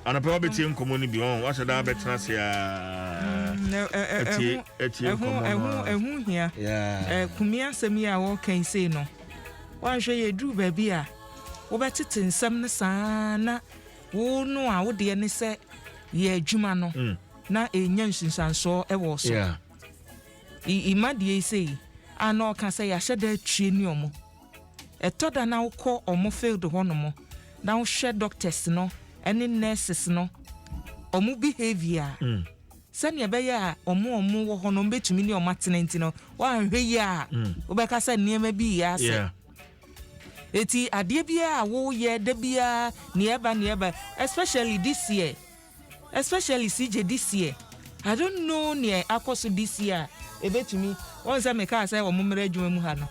anɔpa wobɛtie nkɔmmɔ no bi ɔn wasɛ daa bɛtena ase atie nkɔmmɔ no ɛho hia kumi asɛm yi a wɔkan sei no woanhwɛ yɛduru baabi a wobɛtete nsɛm no saa na wo no a wodeɛ ne sɛ yɛ adwuma no mm. na ɛnya nsunsuansoɔ ɛwɔ so ima deɛ yi sei a na ɔka sɛ yɛahyɛ da atwie ne ɔmo Ɛtɔ da na wokɔ wɔn field hɔ nom na wohwɛ doctors no ne nurses no wɔn behavior a, mm. sɛnea ɛbɛyɛ a wɔn a wɔn wɔ hɔ no wɔbɛtumi ne wɔn atena nti no, wɔanhwɛ yie a mm. wobɛka sɛ nneɛma bi yɛ asɛ. Yeah. Eti adeɛ biara a woyɛ da biara nea ɛba nea ɛba especially this year. especially CJ this year I don't know nea akɔ so this year a ebetumi wɔn sɛ mekaa sɛ wɔn mmra adwuma mu ha no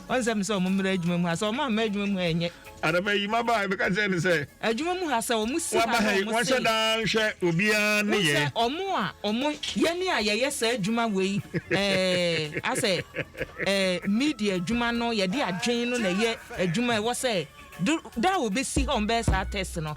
wɔn sɛ mesɛ wɔn mmra adwuma mu ha sɛ wɔn ammra adwuma mu ha ɛnyɛ Adama yi ma baa ebeka kyerɛ ne sɛ. Adwuma mu ha sɛ wɔn si ha na wɔn sei. Wɔn hyɛ daa nhwɛ obiara ne yɛ. Wɔn sɛ wɔn a wɔn yɛne a yɛyɛ saa adwuma wei ɛɛ asɛ ɛɛ media adwuma no yɛde adwene no na ɛyɛ adwuma ɛwɔ sɛ do da a wɔbɛsi ha wɔn bɛyɛ saa test no.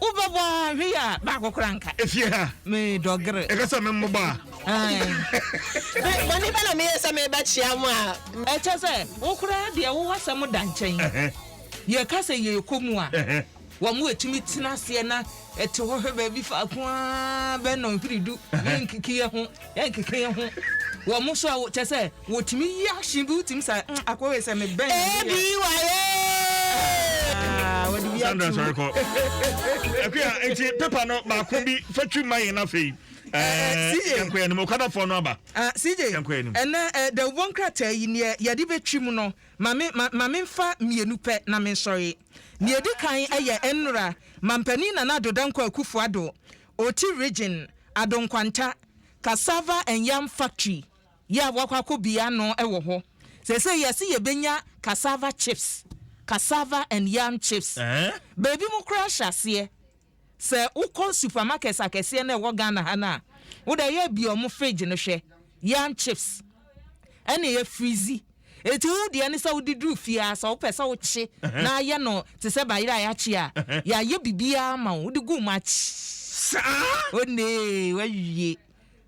Wo bɛ bɔ a hwɛ yi a baako kora nka. Efie ha. Me dɔ gere. Ɛka sɛ me mmobɔ a. Bɔne bɛ na meyɛ sɛ me bɛ kyea mo a. Ɛkyɛ sɛ wo kora deɛ wo w'asɛm da nkyɛn. Yɛ ka sɛ yɛ kɔ mu a. Wa mo atumi tena aseɛ na ɛte hɔ hwɛ baabi faako aa bɛ nɔnhwere du ne nkekeɛ ho. Yɛnkeka yɛn ho wɔ mo so a wo kyɛ sɛ wo tumi yi ahye bi wo tumi sa mm akɔ wei sɛ me bɛn na me yɛ. ABY ee. Sandra sɔre kɔ akuya nti pepa no baako bi fa twi ma yɛn no afei yɛnkɔ yɛn anim okadafoɔ no aba cj ɛnɛ dawubɔ nkrataa yi neɛ yɛde bɛtwi mu no ma memfa mmienu pɛ na mensɔre neɛ di kan ɛyɛ nnora mampanin nana adodankɔ akufoɔ ado Oti Region, Addo Nkwanta Cassava and Yam Factory yi a wɔakɔ akɔbue ano wɔ hɔ. Seesei yɛse yɛbɛnya cassava chips, cassava and yam chips. Baabi mu koraa hyɛ aseɛ, sɛ wokɔ supermarkets akɛseɛ no a ɛwɔ Ghana ha no a, wode ayɛ bue wɔn fridge no hwɛ. yam chips ɛna ɛyɛ firizi eti wo deɛ ne sɛ wode duru fie a sɛ wopɛ sɛ wokye na ayɛ no te sɛ bayerɛ a yɛakye a yɛayɛ biribiara ma wo wode gu mu akye saa onee wawie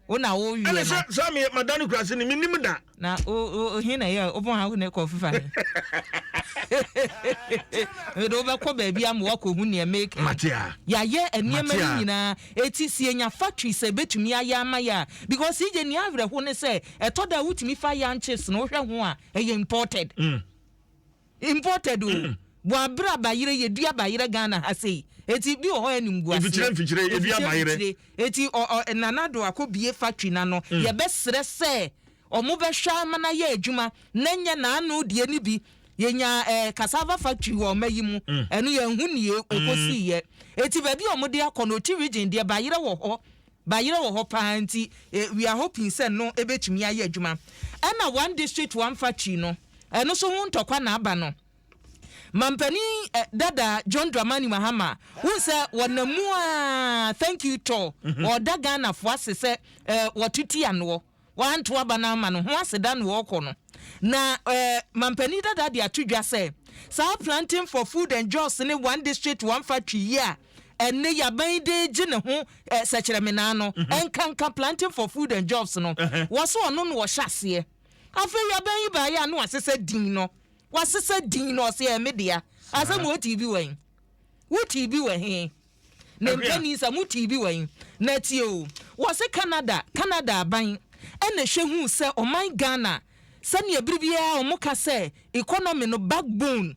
wo na wo wiɛ no ɛne sɛ sɛ me mada no kurase ne menim da na ohin na yɛ wobɔ ha ne kɔ fifa ne mede wobɛkɔ baabi ama woakɔhu neɛ make yɛayɛ nneɛma no nyinaa Eti sɛ yenya factory sɛ ebetumi ayɛ ama yɛ a because yegye nea awerɛhow ne sɛ ɛtɔ da a wotumi fa yanchis na wohwɛ ho a ɛyɛ imported imported o boaberɛ a bayerɛ yedua bayerɛ Ghana ha sei eti bi wɔ hɔ a ɛnim gu aseɛ Mfikyire mfikyire yedua bayerɛ. eti ɔ ɔ nana do akɔbie factory no ano yɛbɛsrɛ sɛ Wɔbɛhwɛ ara ma no ayɛ adwuma na ɛnyɛ n'ano deɛ no bi. Yɛnyaa ɛɛ cassava factory wɔ ɔma yi mu. Ɛno yɛanhu nea wɔkɔsiiɛ. Enti baabi a wɔde akɔ no, Oti Region deɛ, bayerɛ wɔ hɔ. Bayerɛ wɔ hɔ pa ara nti, we are hoping sɛ no bɛtumi ayɛ adwuma. Ɛna One District, One Factory no, ɛno nso ho ntɔkwa na aba no. Mampanin dada John Dramani Mahama, wohu sɛ wɔnam mu ara, thank you tɔ, ɔreda Ghanafoɔ ase sɛ wɔto ti anoɔ. wɔanto aba no ama no ho aseda na ɔrekɔ no, na ɛɛ Mampanin dada de ato dwa sɛ, saa Planting for Food and Jobs ne One District One Factory yi a ɛnnɛ Yaban yi de regye ne ho ɛɛ sɛkyerɛmenaa no, ɛnkanka Planting for Food and Jobs no. Wɔse ɔno na ɔhyɛ aseɛ. Afei Yaban yi baeɛ a na wasesa din no, wasesa din no, ɔse ɛyɛ me dea. Asɛm wɔ, wotee bi wɔ he? Wotee bi wɔ he? Ne mpanin sɛ mo tii bi wɔ he? Na tie o, wɔse Canada, Canada aban na hwɛ hu sɛ ɔman Ghana sɛnea bere biara wɔn ka sɛ economy no back bone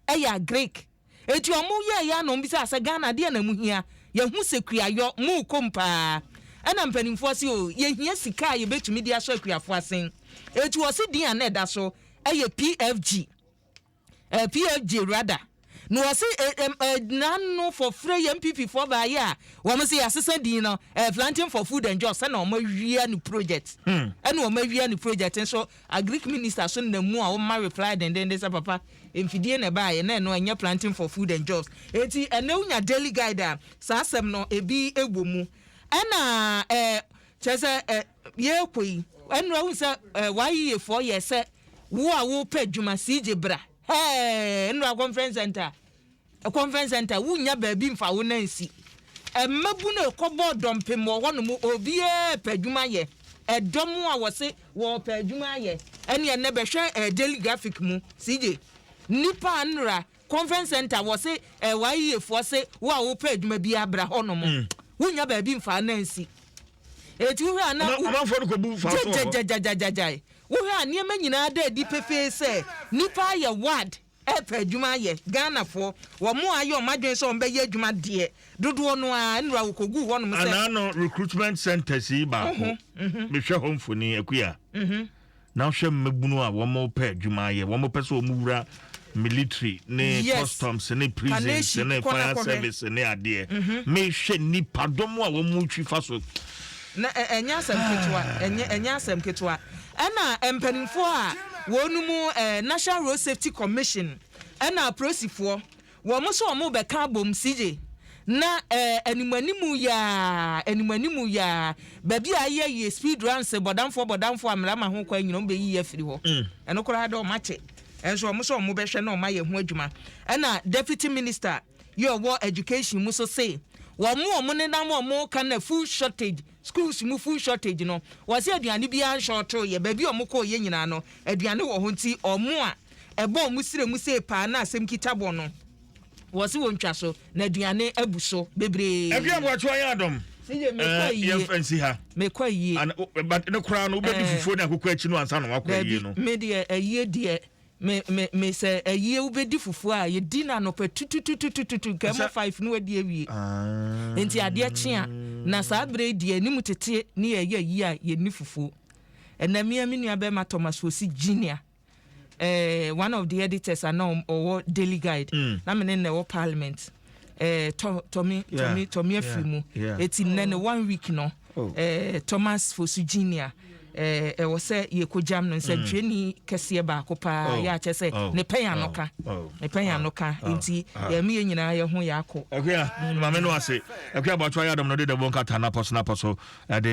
ɛyɛ agric eti wɔn yɛɛ yɛ na wɔn bisa sɛ Ghana adeɛ na mu hia yɛhu sɛ kuayɔ mu kom paa ɛna mpanimfoɔ se o yɛhia sika a yɛbɛtumi de ahyɛ akuafoɔ asen eti wɔse din a na ɛda so ɛyɛ PFG eh, PFJ rather, na wɔse eh, eh, eh, nano fɔfrɛ yɛ MPP fɔ baayɛ a wɔn se yɛasesa din no eh, planting for food and jobs ɛna wɔn awia ne project hmm. ɛna wɔn awia ne project nso agric minister so nam mu a wɔma reply dendenden sɛ papa mfidie na ɛbaayɛ na ɛno ɛnyɛ planting for food and jobs eti ɛna wonya daily guide a saa asɛm no ebi wɔ mu ɛna eh, kyerɛ sɛ eh, Yɛɛkɔ yi ɛnora wohu sɛ eh, w'ayeyɛfoɔ yɛ sɛ wo a wopɛ adwuma sii gye bra hɛɛ ɛnora conference center eh, conference center wonya baabi mfa wo nan si ɛmmabu no ɛkɔbɔ dɔmpem wɔ hɔ nom obiaa pɛ adwuma yɛ ɛdɔm a wɔse wɔpɛ adwuma yɛ ɛne ɛnɛ bɛhwɛ eh, daily graphic mu sii gye nipa a ɛnora Conference center wɔse LYA foɔ se wo a wopɛ adwuma bi abra hɔ nom mm. wonya baabi mfaa na nsi eti wohwɛ a na amanfoɔ no kɔ bu mfaa so gyagyagyagyagyagyae wohwɛ a nneɛma nyinaa da adi pefee sɛ nipa ayɛ ward ɛpɛ adwuma ayɛ ghanafoɔ wɔn a ayɛ wɔn adwene sɛ wɔn bɛyɛ adwuma deɛ dodoɔ no a nnura wɔkɔgu hɔnom sɛ anaa no recruitment centers yi baako mehwɛ hɔ mfoni akuya na wohwɛ mmabunu a wɔpɛ adwuma ayɛ wɔpɛ sɛ wɔwura military ne yes. customs ne prisons ne fire service ne adeɛ mm-hmm. mehwɛ nipadɔm a wɔtwi fa so na ɛnyɛ asɛm ketewa ɛnyɛ asɛm ketewa ɛna mpanimfoɔ a wɔn mu national road safety commission ɛna apolisifoɔ Wɔn so wɔn bɛka abom sigye. Na eh anim anim yaa anim anim yaa baabi a ayɛ yie speed runs bɔdamfoɔ bɔdamfoɔ amera ma ho kwan nyina wɔn bɛyi yɛ afiri hɔ mm. ɛno koraa dɛ wɔn akyɛ ɛnso wɔn so wɔn bɛhwɛ na wɔn ayɛ ho adwuma ɛna deputy minister yɛ ɔwɔ education mu so se wɔn wɔn nenam wɔn ka na food shortage Schools mu food shortage no wɔse aduane biara nshorto yɛ baabi a ɔmo kɔɔ yɛ nyinaa no aduane wɔ hɔ nti ɔmo a ɛbɔ ɔmo srɛ mu sei paa na asɛm kita bɔ no wɔse wɔntwa so na aduane abu so bebree. Ɛkua boakyewa yɛ adom eh yɛmfa nsi ha. Mekɔ ayie. But ne koraa no wobɛdi eh. fufuo ne akokɔ akyi no ansa na wakɔ ayie no. Dabi me deɛ ayie deɛ Me me me sɛ ɛyie wobɛdi fufuo a yɛdi no anɔpa tutututututu nka ɛmɔ five no wadi awie ah. nti adeɛ kyea na saa berɛ yi deɛ anim teteɛ ne yɛyɛ ayie a yɛni fufuo ɛna mea me nua bɛrima thomas wɔ si junior eh, one of the editors ana ɔwɔ daily guide mm. na mene na ɛwɔ parliament eh, tɔ tɔ me tɔ me tɔ me afiri mu eti nnɛ ne one week no oh. eh, Thomas Fosu Junior eh, ɛwɔ eh, sɛ yɛkɔgyam no nsɛntwerɛni mm. kɛseɛ baako paa oh. yɛ akyɛ sɛ oh. ne pɛn ano ka ne pɛn ano ka nti yɛme yɛ nyinaa yɛ ho yɛ akɔ. ɛkua mm. maame no ase ɛkua bɔtɔ ayɛ adɔm no de dɛbɔ nkata napɔ so napɔ so ɛde.